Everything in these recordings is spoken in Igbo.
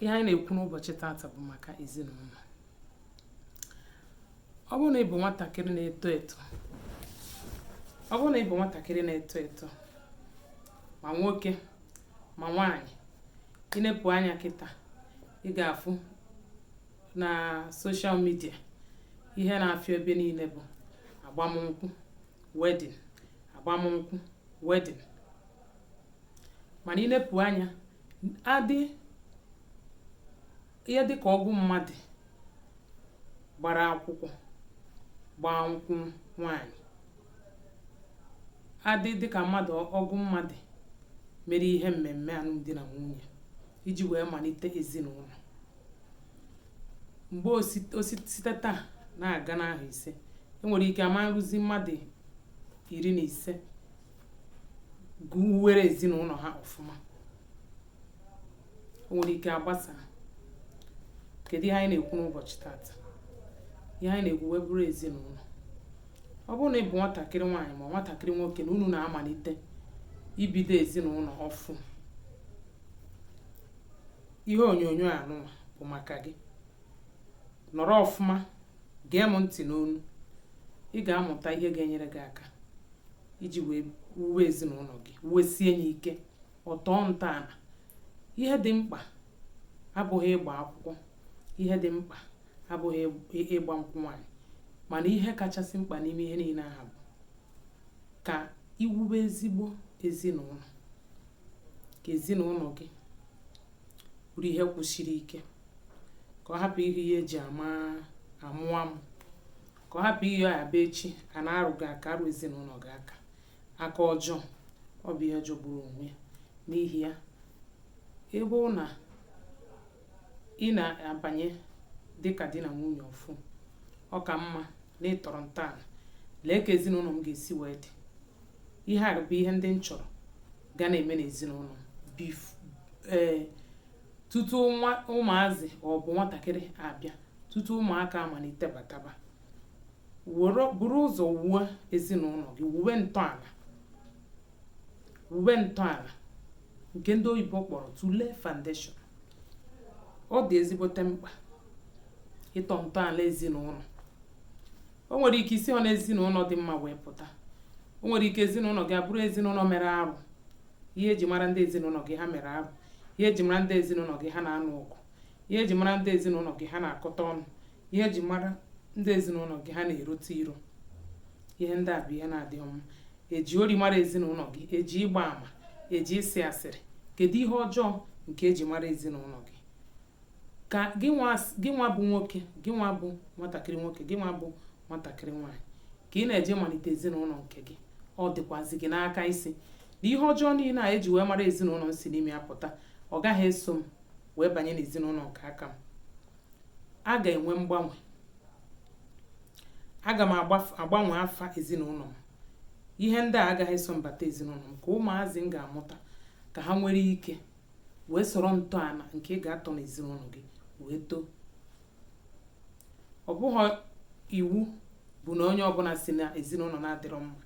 ihe anyị na-ekwu n'ụbọchị tata bụ maka ezinụlọ ọ bụrụ na ị bụ nwatakịrị na-eto eto ma nwoke ma nwaanyị i nepụ anya kịta ị ga-afụ na social media ihe na-afịọ ebe niile bụ agbamnkwụ wedding agbamnkwụ wedding mana i nepụ anya adị ihe dịka ọgụ mmadụ gbara akwụkwọ gbaa nkwụ nwaanyị adị dịka mmadụ ọgụ mmadụ mere ihe mmemme alụmdi na nwunye iji wee malite ezinụlọ mgbe o si tata na-aga n'ahọ ise o nwere ike ama eruzi mmadụ iri na ise wuwere ezinụlọ ha ọfụma o nwere ike agbasaa kedu ihe anyị na-ekwu n'ụbọchị tata ihe anyị na-ekwu wee bụrụ ezinụlọ ọ bụrụ na ị bụ nwatakịrị nwaanyị ma nwatakịrị nwoke na unu na-amalite ibido ezinụlọ ọfụ ihe onyonyo a nụwa bụ maka gị nọrọ ọfụma gee m ntị n'ọnụ ị ga-amụta ihe ga-enyere gị aka iji wee wuwe ezinụlọ gị wuwesie ya ike ọ tọọ ntọala ihe dị mkpa abụghị ịgba akwụkwọ ihe dị mkpa abụghị ịgba nkwụ nwaanyị mana ihe kachasị mkpa n'ime ihe niile ahụ bụ ka i wube ezigbo ezinụlọ ka ezinụlọ gị bụrụ ihe kwụsiri ike ka ọ hapụ ihe ihe e ji amụ amụ ka ọ hapụ ihe a bịa echi a na-arụ gị aka arụ ezinụlọ gị aka aka ọjọọ ọ bụ ihe jọgburu onwe ya n'ihi ya ebe na ị na-abanye dịka di na nwunye ọfụ ọ ka mma na ị tọrọ ntọala lee ka ezinụlọ m ga-esi wee dị ihe a bụ ihe ndị m chọrọ ga na-eme n'ezinụlọ ee eh, tutu ụmụazị ọ bụ nwatakịrị abịa tutu ụmụaka amalite bataba buru ụzọ wuo ezinụlọ gị wuwe ntọala wube ntọala nke ndị oyibo kpọrọ to lay foundation ọ dị ezigbote mkpa ịtọ ntọala ezinụlọ o nwere ike isihọ na ezinụlọ dị mma wee pụta o nwere ike ezinụlọ gị abụrụ ezinụlọ mere arụ ihe eji mara ndị ezinụlọ gị ha mere arụ ihe eji mara ndị ezinụlọ gị ha na-anụ ọgụ ihe eji mara ndị ezinụlọ gị ha na-akọta ọnụ ihe eji mara ndị ezinụlọ gị ha na-erote iro ihe ndị a bụ ihe na-adịghị mma eji ori mara ezinụlọ gị eji ịgba ama eji ịsị asịrị kedu ihe ọjọọ nke eji mara ezinụlọ gị ka gị nwa bụ nwoke gị nwa bụ nwatakịrị nwoke gị nwa bụ nwatakịrị nwaanyị ka ị na-eje malite ezinụlọ nke gị ọ dịkwazi gị n'aka ịsị na ihe ọjọọ niile a eji wee mara ezinụlọ m si n'ime ya pụta ọ gaghị eso m wee banye n'ezinụlọ nke aka m a ga-enwe mgbanwe aga m agbanwe afa ezinụlọ m ihe ndị a agaghị eso m bata ezinụlọ m ka ụmụazị m ga-amụta ka ha nwere ike wee soro ntọala nke ị ga-atọ n'ezinụlọ gị wee too ọ bụghị iwu bụ na onye ọbụla si na ezinụlọ na-adịrọ mma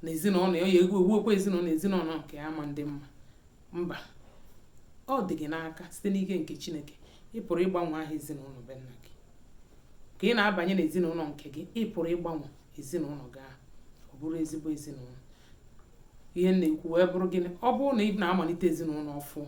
na ezinụlọ ya ewuokwa ezinụlọ ezinụlọ nke ya ama adị mma mba ọ dị gị n'aka site n'ike nke chineke ị pụrụ ịgbanwe aha ezinụlọ be nna gị ka ị na-abanye n'ezinụlọ nke gị ị pụrụ ịgbanwe ezinụlọ gị ahụ ọ bụrụ ezigbo ezinụlọ ihe m na-ekwu wee bụrụ gịnị ọ bụrụ na ị na-amalite ezinụlọ ọfụ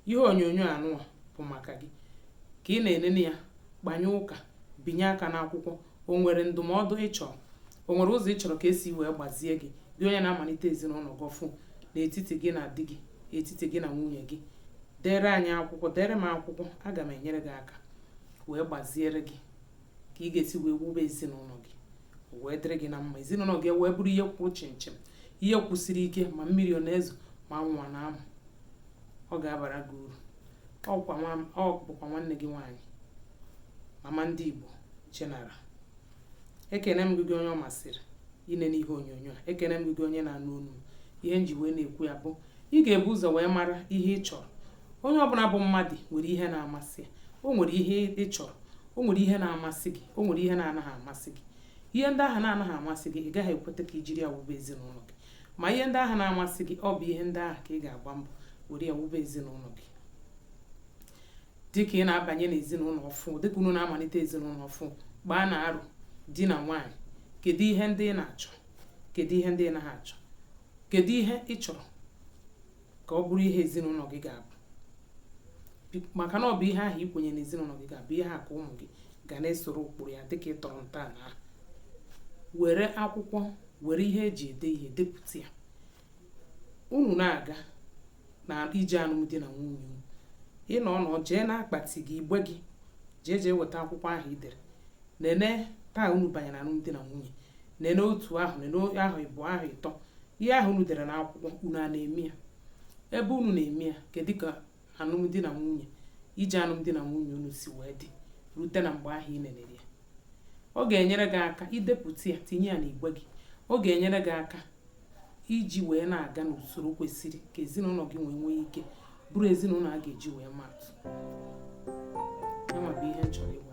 ihe onyonyo anụwa bụ maka gị ka ị na-enene ya kpanye ụka binye aka n'akwụkwọ o nwere ndụmọdụ ị chọrọ o nwere ụzọ ị chọrọ ka esi wee gbazie gị gị onye na-amalite ezinụlọ gị ọfụ n'etiti gị na di gị etiti gị na nwunye gị dere anyị akwụkwọ dere m akwụkwọ aga m enyere gị aka wee gbaziere gị ka ị ga-esi wee wube ezinụlọ gị wee dịrị gị na mma ezinụlọ gị wee bụrụ ihe kwụ chịmchịm ihe kwụsiri ike ma mmiri ọ na-ezo ma anwụ na-amụ ọ ga-abara gị uru ọ bụkwa nwanne gị nwaanyị mama ndị Igbo General ekene m gị gị onye ọ masịrị inene ihe onyonyo a ekene m gị gị onye na-anụ olu ihe m ji wee na-ekwu ya bụ ị ga-ebu ụzọ wee mara ihe ị chọrọ onye ọbụla bụ mmadụ nwere ihe na-amasị ya o nwere ihe ị chọrọ o nwere ihe na-amasị gị o nwere ihe na-anaghị amasị gị ihe ndị ahụ na-anaghị amasị gị ị gaghị ekweta ka i jiri ya wube ezinụlọ gị ma ihe ndị ahụ na-amasị gị ọ bụ ihe ndị ahụ ka ị ga-agba mbọ were ya wube ezinụlọ gị dịka ị na-abanye n'ezinụlọ ọfụ dịka unu na-amalite ezinụlọ ọfụ gbaanụ aro di na nwaanyị kedu ihe ndị ị na-achọ kedu ihe ndị ị naghị achọ kedu ihe ị chọrọ ka ọ bụrụ ihe ezinụlọ gị ga-abụ maka na ọ bụ ihe ahụ i kwenye na ezinụlọ gị ga-abụ ihe a ka ụmụ gị ga na-esoro ụkpụrụ ya dịka ị tọrọ ntọala ahụ were akwụkwọ were ihe e ji ede ihe depụta ya unu na-aga na ije alụmdi na nwunye ị nọọ nọọ jee n'akpati gị igbe gị jee jee weta akwụkwọ ahụ i dere nene taa unu banyere alụmdi na nwunye nene otu ahọ nene ahọ ịbụọ ahọ ịtọ ihe ahụ unu dere n'akwụkwọ unu a na-eme ya ebe unu na-eme ya kedu ka alụmdi na nwunye ije alụmdi na nwunye unu si wee dị rute na mgbe ahụ ị nenere ya ọ ga-enyere gị aka i depụta ya tinye ya n'igbe gị ọ ga-enyere gị aka iji wee na-aga n'usoro kwesịrị ka ezinụlọ gị nwee nwee ike bụrụ ezinụlọ a ga-eji wee maa atụ yanwa bụ ihe m chọrọ ịgwa